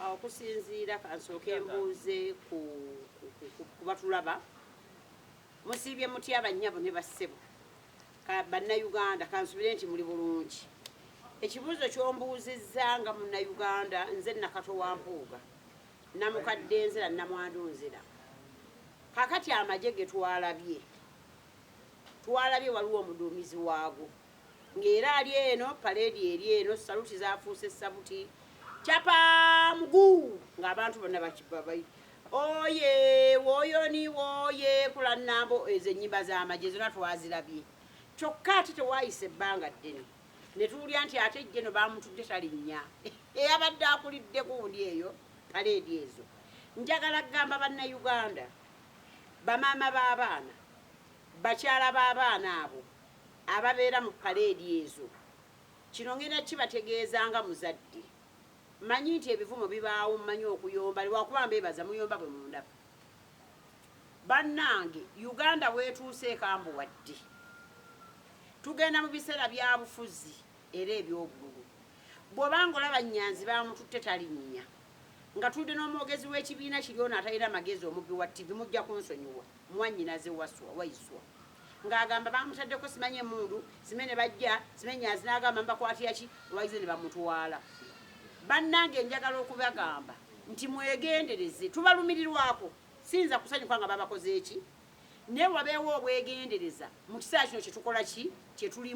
Ah, okusinziira kansooke mbuuze ku batulaba musiibye mutya bannyabo ne bassebo bannayuganda kansubire nti muli bulungi ekibuuzo kyombuuzizza nga munnayuganda nze nakato wa mpuuga namukadde nzira namwandu nzira kakati amagye getwalabye twalabye waliwo omuduumizi waago Ng'era ali eno, paleedi eri eno, ssaluti zaafuuse ssabuti, Capa! Muguu! Ng'abantu bonna bakiba bayi, Oye! Woyoni! Woye! Kulannambo! Ezo ennyimba z'amagye zonna twazirabye. Kyokka ate tewaayise ebbanga ddene ne tuwulira nti ate ejje no baamutudde talinnya. Eyabadde akulidde gundi eyo paleedi ezo. Njagala kugamba Bannayuganda, bamaama b'abaana, bakyala b'abaana abo, ababeera mu paleedi ezo. Kino ngenda kibategeeza nga muzadde. Mmanyi nti ebivumo bibaawo, mmanyi okuyomba lwakuba mbeebaza muyomba bwe mundaba. Bannange Uganda w'etuuse ekambuwadde. Tugenda mu biseera byabufuzi era eby'obululu. Bw'oba ng'olaba Nyanzi baamututte talinnya, ng'atudde n'omwogezi w'ekibiina kiri ono atalina magezi omubbi wa ttivi mujja kunsonyiwa, mwannyinaze Waswa, Waiswa. ng'agamba baamutaddeko simanyi emmundu sime ne bajja sime nyanzi n'agamba mbakwatira ki olwagize ne bamutwala bannange njagala okubagamba nti mwegendereze tubalumirirwako siyinza kusanyuka nga babakoze eki naye wabeewo obwegendereza mu kiseera kino kyetukola ki kyetulimu